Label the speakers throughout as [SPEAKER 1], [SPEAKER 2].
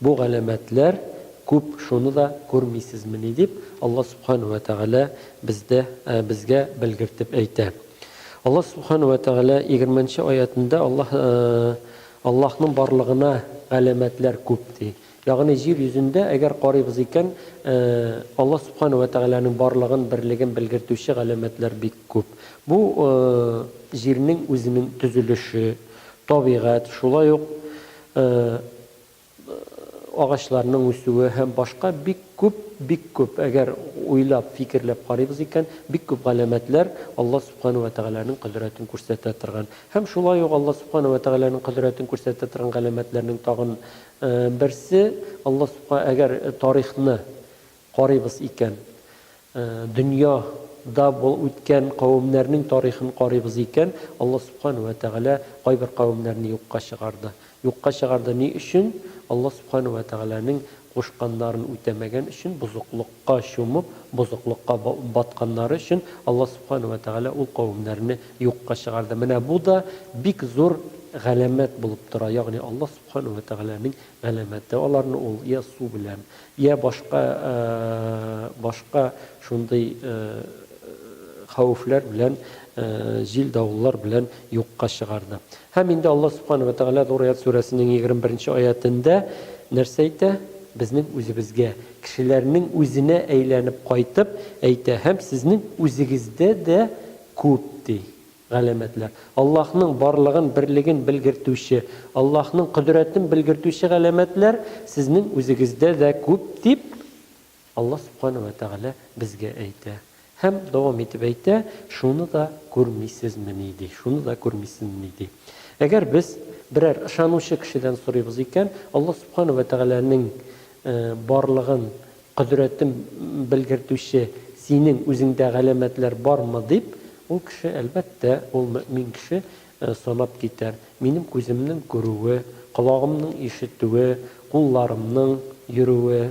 [SPEAKER 1] Бу галәмәтләр күп, шуны да күрмисезмени? дип, Алла Сүбхәнәһү вә Тәгалә бездә, безгә белгертеп әйтә. Алла Сүбхәнәһү вә Тәгалә егерменче аятендә Аллаһ, Аллаһның барлыгына галәмәтләр күп, ди. Ягъни, җир йөзендә, әгәр карыйбыз икән, Алла Сүбхәнәһү вә Тәгаләнең барлыгын, берлеген белгертүче галәмәтләр бик күп. Бу, җирнең үзенең төзелеше, табигать, шулай ук агачларның үсүе һәм башка бик күп, бик күп, әгәр уйлап, фикерләп карыйбыз икән, бик күп галәмәтләр Алла Субхана вә Тәгаләнең кодрәтен күрсәтә торган. Һәм шулай ук Алла Субхана вә Тәгаләнең кодрәтен күрсәтә торган галәмәтләрнең тагын берсе, Алла Субха әгәр тарихны Карыйбыз икән, дөнья да үткән кавемнәрнең тарихын карыйбыз икән, Аллаһ Субхана уә Тәгалә кайбер кавемнәрне юкка чыгарды. Юкка чыгарды ни өчен? Аллаһ Субхана уә Тәгаләнең кушканнарын үтәмәгән өчен, бозыклыкка чумып, бозыклыкка батканнары өчен Аллаһ Субхана уә Тәгалә ул кавемнәрне юкка чыгарды. Менә бу да бик зур галәмәт булып тора, ягъни Аллаһ Субхана уә Тәгаләнең Галәмәте аларны ул йә су белән, йә башка башка шундый хәвефләр белән, җил-давыллар белән юкка чыгарды. Һәм инде Аллаһ Субхана вә Тәгалә Зурият сүрәсенең егерме беренче аятендә нәрсә әйтә? Безнең үзебезгә, кешеләрнең үзенә әйләнеп кайтып, әйтә, Һәм сезнең үзегездә дә күп, ди. Галәмәтләр. Аллаһның барлыгын, берлеген белгертүче, Аллаһның кодрәтен белгертүче галәмәтләр сезнең үзегездә дә күп, дип Аллаһ Сүбхәнәһү вә Тәгалә безгә әйтә. Һәм дәвам итеп әйтә, Шуны да күрмисезмени? ди. Шуны да күрмисезмени? ди. Әгәр без берәр ышанучы кешедән сорыйбыз икән, Аллаһ Сүбхәнәһү вә Тәгаләнең барлыгын Кодрәтем белгертүче синең үзеңдә галәмәтләр бармы? дип, ул кеше, әлбәттә, ул мөэмин кеше санап китәр, минем күземнең күрүе, колагымның ишетүе, кулларымның йөрүе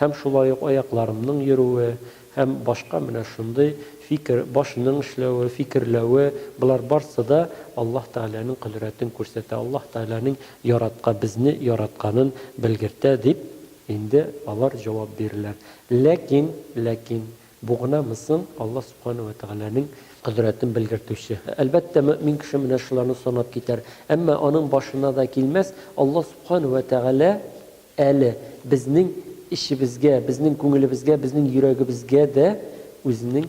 [SPEAKER 1] һәм шулай ук аякларымның йөрүе һәм башка менә шундый фикер, башның эшләве, фикерләве, болар барсы да Аллаһ Тәгаләнең кодрәтен күрсәтә, Аллаһ Тәгаләнең яратка, безне яратканын белгертә, дип Инде алар җавап бирерләр. Ләкин, ләкин, бу гынамы соң Аллаһ Субхана уә Тәгаләнең кодрәтен белгертүче? Әлбәттә, мөэмин кеше менә шуларны санап китәр. Әмма аның башына да килмәс, Аллаһ Субхана уә Тәгалә әле безнең эчебезгә, безнең күңелебезгә, безнең йөрәгебезгә дә Үзенең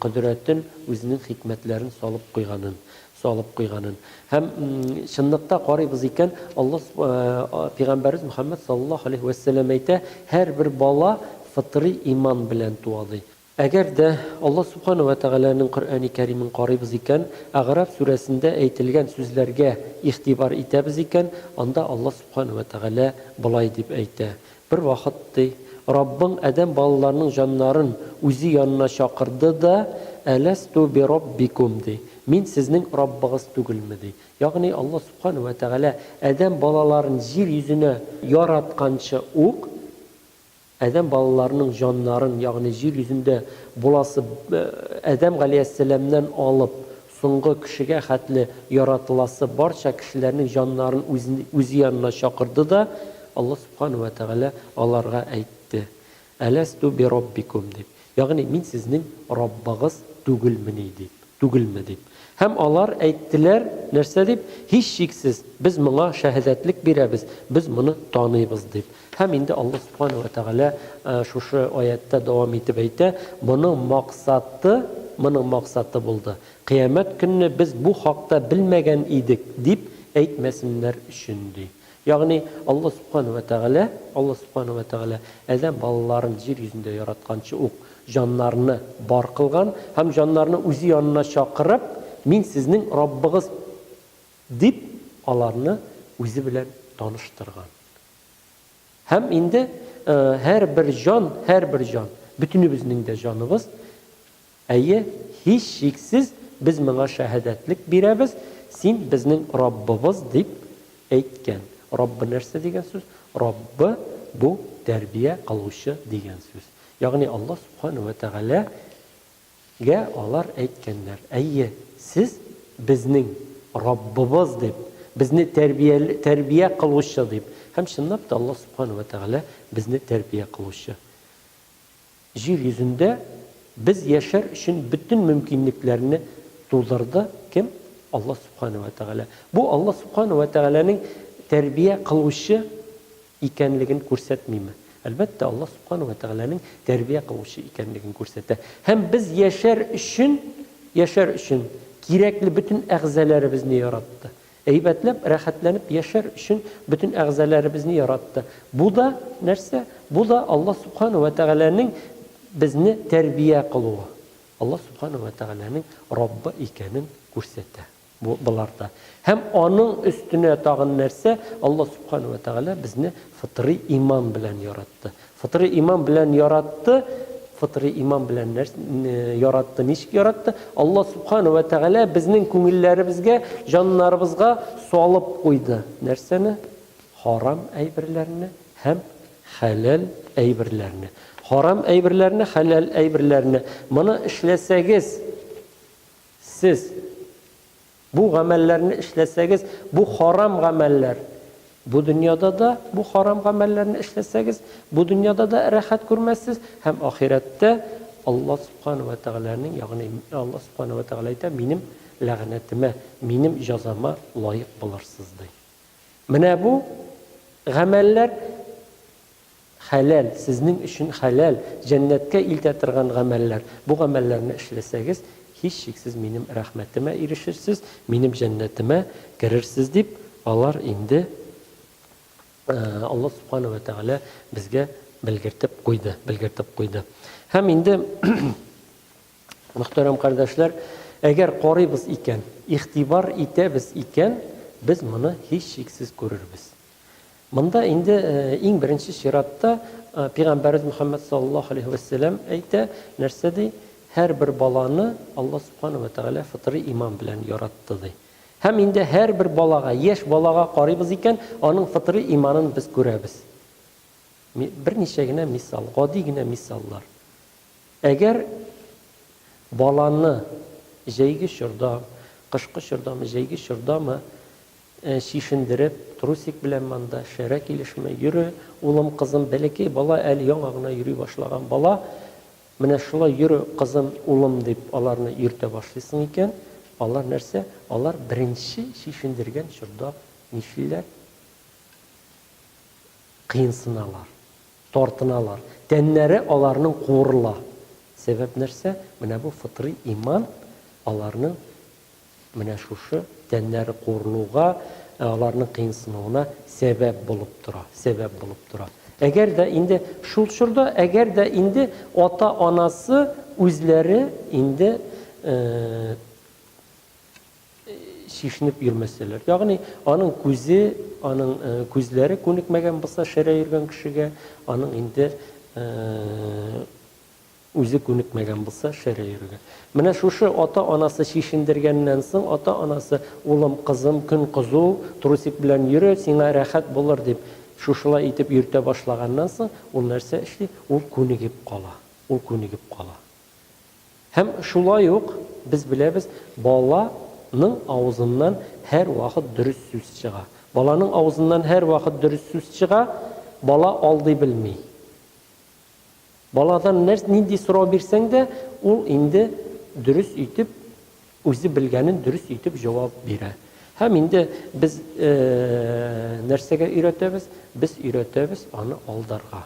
[SPEAKER 1] Кодрәтен, Үзенең хикмәтләрен салып куйганын, салып куйганын. Һәм чынлыкта карыйбыз икән, Алла Пигамбәрбез Мөхәммәд саллаллаһу алейһи вә сәлләм әйтә, һәрбер бала фытри иман белән туа, ди. Әгәр дә Алла Субхана вә Тәгаләнең Коръәни Кәримен карыйбыз икән, Әгъраф сүрәсендә әйтелгән сүзләргә игътибар итәбез икән, анда Алла Субхана вә Тәгалә болай дип әйтә, Бервакыт, ди, Раббың адәм балаларының җаннарын үзе янына чакырды да, Әләстү бираббикум, ди, Мин сезнең Раббыгыз түгелме? ди. Ягъни Аллаһ Сүбхәнәһү вә Тәгалә адәм балаларын җир йөзенә яратканчы ук, адәм балаларының җаннарын, ягъни җир йөзендә буласы адәм галәйһиссәламнән алып, Соңгы кешегә хәтле яратыласы барча кешеләрнең җаннарын үзе янына чакырды да, Аллаһ Сүбхәнәһү вә Тәгалә аларга әйтте, Әләстү бираббикүм, дип, ягъни Мин сезнең Раббыгыз түгелмени? дип, түгелме? дип. Һәм алар әйттеләр, нәрсә дип, Һичшиксез, без моңа шәһәдәтлек бирәбез, без моны таныйбыз, дип. Һәм инде Аллаһ Субхана уә Тәгалә шушы аятьтә дәвам итеп әйтә, Моның максаты, моның максаты булды, Кыямәт көнне без бу хакта белмәгән идек, дип әйтмәсеннәр өчен, ди. Ягъни, Аллаһ Субхана уә Тәгалә, Аллаһ Субхана уә Тәгалә адәм балаларын җир йөзендә яратканчы ук җаннарны бар кылган һәм җаннарны үзе янына чакырып, Мин сезнең Раббыгыз, дип, аларны үзе белән таныштырган. Һәм инде һәрбер җан, һәрбер җан, бөтенебезнең дә җаныбыз, әйе, һичшиксез, без моңа шәһадәтлек бирәбез, Син, безнең Раббыбыз, дип әйткән. Раббы нәрсә дигән сүз? Раббы, бу, тәрбия кылучы дигән сүз. Ягъни Аллаһ Субхана вә Тәгалә Гә алар әйткәннәр, Әйе, сез, безнең Раббыбыз дип, безне тәрбия, тәрбия кылучы дип. Һәм, чынлап та, Аллаһ Субхана вә Тәгалә безне тәрбия кылучы. Җир йөзендә без яшәр өчен бөтен мөмкинлекләрне тудырды, кем? Аллаһ Субхана вә Тәгалә. Бу Аллаһ Субхана вә Тәгаләнең тәрбия кылучы икәнлеген күрсәтмиме? Әлбәттә, Аллаһ Субхана уә Тәгаләнең тәрбия кылучы икәнлеген күрсәтә. Һәм без яшәр өчен, яшәр өчен кирәкле бөтен әгъзаләребезне яратты. Әйбәтләп, рәхәтләнеп яшәр өчен бөтен әгъзаләребезне яратты. Бу да нәрсә? Бу да Аллаһ Субхана уә Тәгаләнең безне тәрбия кылуы. Аллаһ Субхана уә Тәгаләнең Раббы икәнен күрсәтә. Бу боларда. Һәм аның өстенә тагын нәрсә, Аллаһ Сүбхәнәһү вә Тәгалә безне фытрый иман белән яратты. Фытрый иман белән яратты, фытрый иман белән нәрс, яратты, ничек яратты? Аллаһ Сүбхәнәһү вә Тәгалә безнең күңелләребезгә, җаннарыбызга салып куйды. Нәрсәне? Харам әйберләрне һәм хәләл әйберләрне. Харам әйберләрне, хәләл әйберләрне. Моны эшләсәгез, Сез бу гамәлләрне эшләсәгез, бу харам гамәлләр, бу дөньяда да бу харам гамәлләрне эшләсәгез, бу дөньяда да рәхәт күрмәссез һәм ахирәттә Алла субхана вә тәгаләнең, ягъни Алла субхана вә тәгалә әйтә, минем ләгънәтемә, минем җазама лаек булырсыз, ди. Менә бу гамәлләр Хәләл, сезнең өчен хәләл, җәннәткә илтә торган гамәлләр. Бу гамәлләрне эшләсәгез, һичшиксез Минем рәхмәтемә ирешерсез, Минем җәннәтемә керерсез, дип, алар инде Аллаһ Субхана вә Тәгалә безгә белгертеп куйды, белгертеп куйды. Һәм инде, мөхтәрәм кардәшләр, әгәр карыйбыз икән, игътибар итәбез икән, без моны һичшиксез күрербез. Монда инде иң беренче чиратта Пигамбәрбез Мөхәммәд саллаллаһу алейһи вә сәлләм әйтә, нәрсә ди? Һәрбер баланы Алла субхана вә тәгалә фытырый иман белән яратты ди. Һәм инде һәрбер балага, яшь балага карыйбыз икән, аның фытырый иманын без күрәбез. Берничә генә мисал, гади генә мисаллар. Әгәр баланы җәйге чорда, кышкы чордамы, җәйге чордамы Чишендереп, трусик белән монда шәрә килешми. Йөре, улым, кызым, бәләкәй бала әле яңа гына йөри башлаган бала. Менә шулай йөре, кызым, улым, дип аларны йөртә башлыйсың икән, алар нәрсә, алар беренче чишендергән чорда нишлиләр? Кыенсыналар, тартыналар, тәннәре аларның куырыла. Сәбәп нәрсә? Менә бу фытрый иман аларның Менә шушы тәннәре курылуга, аларның кыенсынуына сәбәп булып тора, сәбәп булып тора. Әгәр дә инде шул чорда, әгәр дә инде ата-анасы үзләре инде чишенеп йөрмәсәләр. Ягъни аның күзе, аның күзләре күнекмәгән булса шәрә йөргән кешегә, аның инде Үзе күнекмәгән булса, шәрә йөрергә. Менә шушы ата-анасы чишендергәннән соң, ата-анасы, улым, кызым, көн кызу, трусик белән йөре, сиңа рәхәт булыр, дип, шушылай итеп йөртә башлаганнан соң, ул нәрсә эшли? Ул күнегеп кала. Ул күнегеп кала. Һәм шулай ук, без беләбез, бала ның авызыннан һәрвакыт дөрес сүз чыга. Баланың авызыннан һәрвакыт дөрес сүз чыга, бала алдый белми. Баладан нәрс нинди сорау бирсәң дә, ул инде дөрес итеп, үзе белгәнен дөрес итеп җавап бирә. Һәм инде без нәрсәгә өйрәтәбез? Без өйрәтәбез аны алдарга.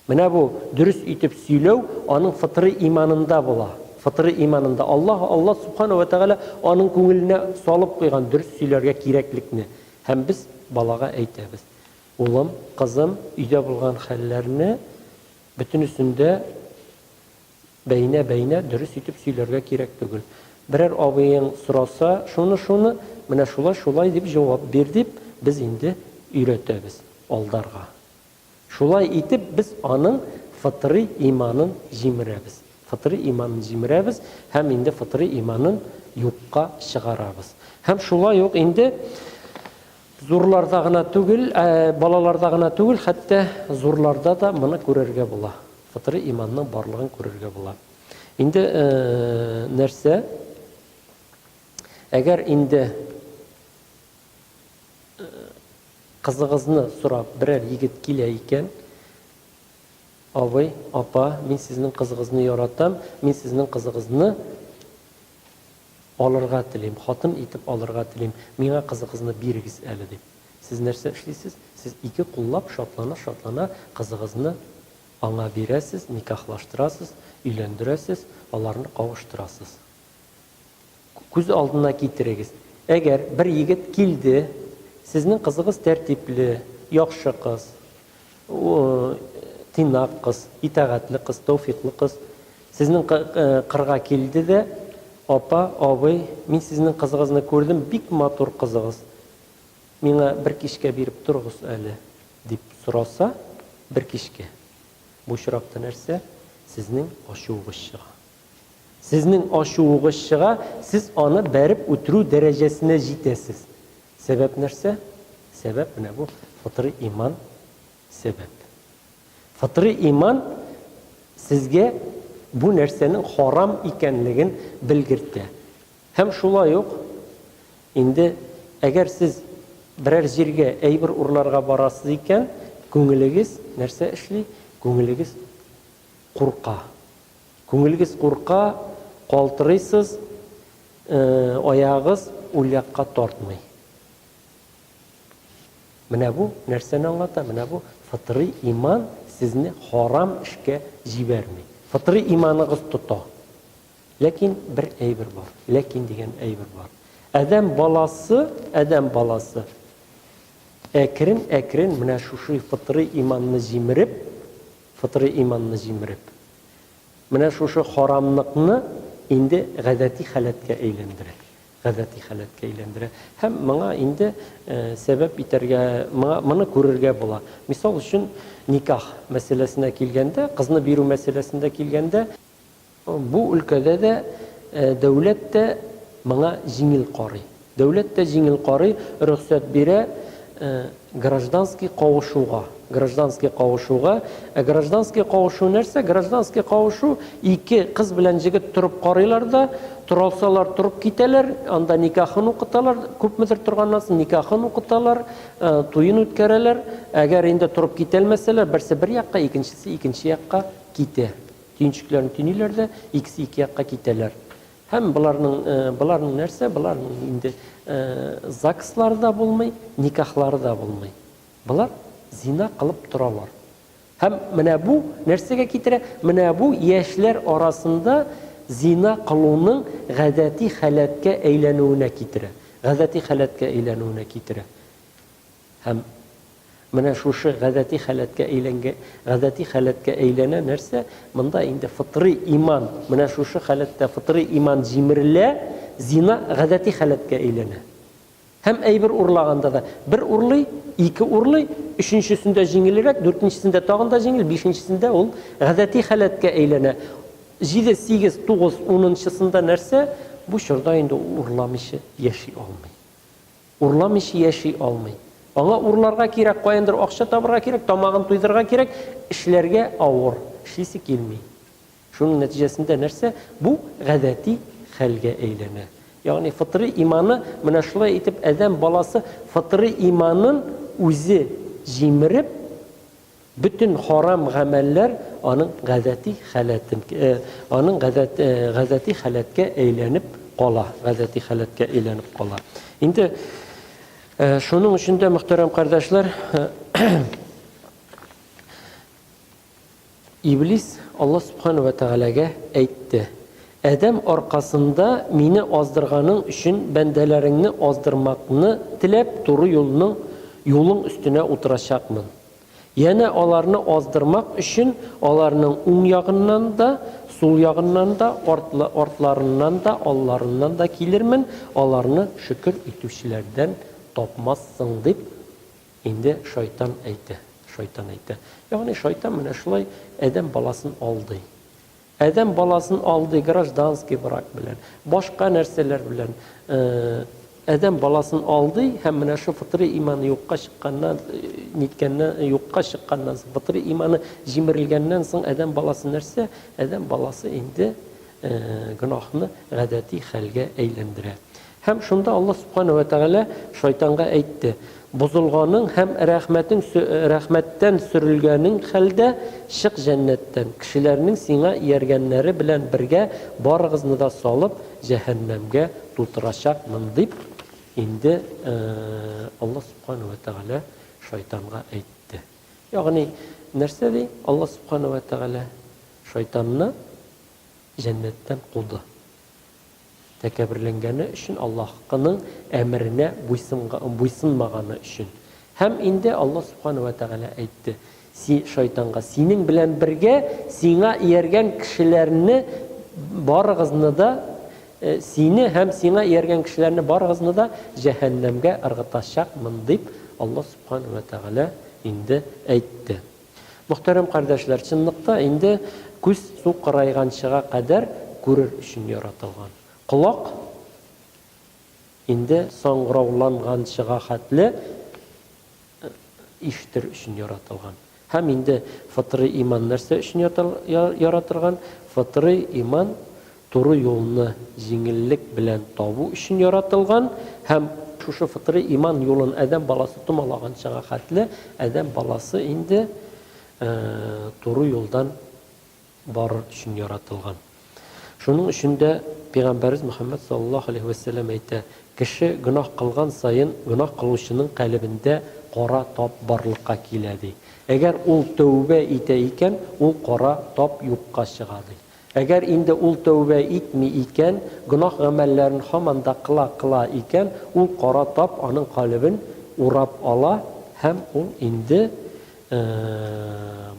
[SPEAKER 1] Менә бу дөрес итеп сөйләү аның фытрый иманында була. Фытрый иманында Аллаһ, Аллаһ Субхана ва Тәгалә аның күңеленә салып куйган дөрес сөйләргә кирәклекне. Һәм без балага әйтәбез. Улым, кызым, өйдә булган хәлләрне бөтенесен дә бәйнә-бәйнә дөрес итеп сөйләргә кирәк түгел. Берәр абыең сораса, шуны-шуны, менә шулай-шулай дип җавап бир, дип без инде өйрәтәбез алдарга. Шулай итеп без аның фытрый иманын җимерәбез. Фытрый иманын җимерәбез һәм инде фытрый иманын юкка чыгарабыз. Һәм шулай ук инде Зурларда гына түгел, ә балаларда гына түгел, хәтта зурларда да моны күрергә була. Фытрый иманның барлыгын күрергә була. Инде нәрсә? Әгәр инде кызыгызны сорап берәр егет килә икән, абый, апа, мин сезнең кызыгызны яратам, мин сезнең кызыгызны Алырга телим, хатын итеп алырга телим, миңа кызыгызны бирегез әле, дип. Сез нәрсә эшлисез? Сез ике куллап шатлана-шатлана кызыгызны аңа бирәсез, никахлаштырасыз, өйләндерәсез, аларны кавыштырасыз. Күз алдына китерегез, әгәр бер егет килде, сезнең кызыгыз тәртипле, яхшы кыз, Тыйнак кыз, итәгатьле кыз, тәүфиклы кыз сезнең кырга килде дә, Апа, абый, мин сезнең кызыгызны күрдем, бик матур кызыгыз. Миңа бер кичкә биреп торыгыз әле, дип сораса, бер кичкә. Бу очракта нәрсә? Сезнең ачуыгыз чыга. Сезнең ачуыгыз чыга, сез аны бәреп үтерү дәрәҗәсенә җитәсез. Сәбәп нәрсә? Сәбәп менә бу фытрый иман сәбәп. Фытрый иман сезгә бу нәрсәнең харам икәнлеген белгертә. Һәм шулай ук инде әгәр сез берәр җиргә әйбер урларга барасыз икән, күңелегез нәрсә эшли? Күңелегез курка. Күңелегез курка, калтырыйсыз, аягыгыз ул якка тартмый. Менә бу нәрсәне аңлата, менә бу фытрый иман сезне харам эшкә җибәрми. Фытрый иманыгыз тота. Ләкин бер әйбер бар, ләкин дигән әйбер бар. Адәм баласы, адәм баласы әкрен-әкрен менә шушы фытрый иманны җимереп, Фытрый иманны җимереп. Менә шушы харамныкны инде гадәти халәткә әйләндерә. Гадәти халәткә әйләндерә. Һәм моңа инде сәбәп итәргә, моңа, моны күрергә була. Мисал өчен, никах мәсьәләсенә килгәндә, кызны бирү мәсьәләсендә килгәндә, Бу өлкәдә дә дәүләт тә моңа җиңел карый. Дәүләт тә җиңел карый, рөхсәт бирә гражданский кавышуга. Гражданский кавышуга. Ә гражданский кавышу нәрсә? Гражданский кавышу, ике кыз белән җегет торып карыйлар да, торалсалар торып китәләр, анда никахын укыталар, күпмедер торганнан соң никахын укыталар, туен үткәрәләр. Әгәр инде торып китәлмәсәләр, берсе бер якка, икенчесе икенче якка китә. Төенчекләрен төйниләр дә, икесе ике якка китәләр. Һәм боларның, боларның нәрсә? Боларның инде ЗАГСлары да булмый, никахлары да булмый. Болар зина кылып торалар. Һәм менә бу нәрсәгә китерә? Менә бу яшьләр арасында зина кылуның гадәти халәткә әйләнүенә китерә. Гадәти халәткә әйләнүенә китерә. Һәм менә шушы гадәти халәткә әйләнгә, гадәти халәткә әйләнә нәрсә? Монда инде фытрый иман, менә шушы халәттә фытрый иман җимерелә, зина гадәти халәткә әйләнә. Һәм әйбер урлаганда да, бер урлый, ике урлый, өченчесендә җиңелрәк, дүртенчесендә тагын да җиңел, бишенчесендә ул гадәти халәткә әйләнә. Җиде, сигез, тугыз, унынчысында нәрсә? Бу чорда инде ул урламыйча яши алмый. Урламыйча яши алмый. Аңа урларга кирәк, каяндыр акча табырга кирәк, тамагын туйдырырга кирәк, эшләргә авыр, эшлисе килми. Шуның нәтиҗәсендә нәрсә? Бу гадәти хәлгә әйләнә. Ягъни фытырый иманы, менә шулай итеп адәм баласы фытырый иманын үзе җимереп, Бөтен харам гамәлләр аның гадәти халәтен, аның гадәт, гадәти халәткә әйләнеп кала, гадәти халәткә әйләнеп кала. Инде шуның өчен дә, мөхтәрәм кардәшләр, Иблис Аллаһ Субхану ва Тәгаләгә әйтте, Адәм аркасында мине аздырганың өчен бәндәләреңне аздырмакны теләп туры юлның юлың өстенә утырачакмын. Янә аларны аздырмак өчен аларның уң ягыннан да, сул ягыннан да, артларыннан да, алларыннан да килермен, аларны шөкер итүчеләрдән тапмассың, дип инде шайтан әйтә. Шайтан әйтә. Ягъни шайтан менә шулай Адәм баласын алдый. Адәм баласын алдый гражданский брак белән, башка нәрсәләр белән адәм баласын алдый һәм менә шу фытрый иманы юкка чыкканнан, ниткәннән, юкка чыкканнан соң, фытрый иманы җимерелгәннән соң адәм баласы нәрсә? Адәм баласы инде гөнаһны гадәти хәлгә әйләндерә. Һәм шунда Аллаһ Сүбхәнәһү вә Тәгалә шайтанга әйтте, Бозылганың һәм рәхмәтең рәхмәттән сөрелгәнең хәлдә, чык җәннәттән, кешеләрнең сиңа ияргәннәре белән бергә барыгызны да салып, җәһәннәмгә тутырачакмын, дип, инде Аллаһ Сүбхәнәһү вә Тәгалә шайтанга әйтте. Ягъни, нәрсә ди? Аллаһ Сүбхәнәһү вә Тәгалә шайтанны җәннәттән куды. Тәкәбберләнгәне өчен, Аллаһкының әмеренә буйсынмаганы өчен. Һәм инде Аллаһ Сүбхәнәһү вә Тәгалә әйтте, Син, шайтанга, синең белән бергә сиңа ияргән кешеләрне барыгызны да, сине һәм сиңа ияргән кешеләрне барыгызны да җәһәннәмгә ыргытачакмын, дип, Аллаһ Сүбхәнәһү вә Тәгалә инде әйтте. Мөхтәрәм кардәшләр, чынлыкта инде күз су кырайганчыга кадәр күрер өчен яратылган. Колак инде саңгырауланганчыга хәтле ишетер өчен яратылган. Һәм инде фытрый иман нәрсә өчен яратырган? Фытрый иман Туры юлны җиңеллек белән табу өчен яратылган һәм шушы фытрый иман юлын адәм баласы томалаганчага хәтле адәм баласы инде туры юлдан барыр өчен яратылган. Шуның өчен дә Пигамбәрбез Мөхәммәд саллаллаһу алейһи вә сәлләм әйтә, Кеше гөнаһ кылган саен гөнаһ кылучының калебендә кара тап барлыкка килә, ди. Әгәр ул тәүбә итә икән, ул кара тап юкка чыга, ди. Әгәр инде ул тәүбә итми икән, гөнаһ-гамәлләрен һаман да кыла-кыла икән, ул кара тап аның калебен урап ала һәм ул инде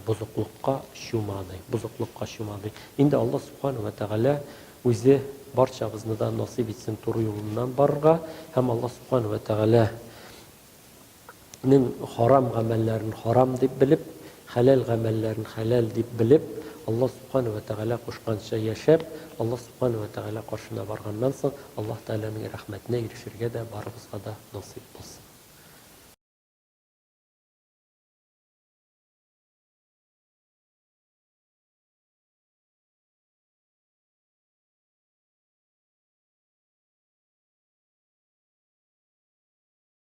[SPEAKER 1] бозыклыкка чумады, бозыклыкка чумады. Инде Аллаһ Субхана вә Тәгалә Үзе барчабызны да насыйп итсен туры юлыннан барырга һәм Аллаһ Субхана вә Тәгалә Нең харам гамәлләрен харам дип белеп, хәләл гамәлләрен хәләл дип белеп, Аллаһ Субхана вә Тәгалә кушканча яшәп, Аллаһ Субхана вә Тәгалә каршына барганнан соң, Аллаһ Тәгаләнең рәхмәтенә ирешергә дә барыбызга да насыйп булсын.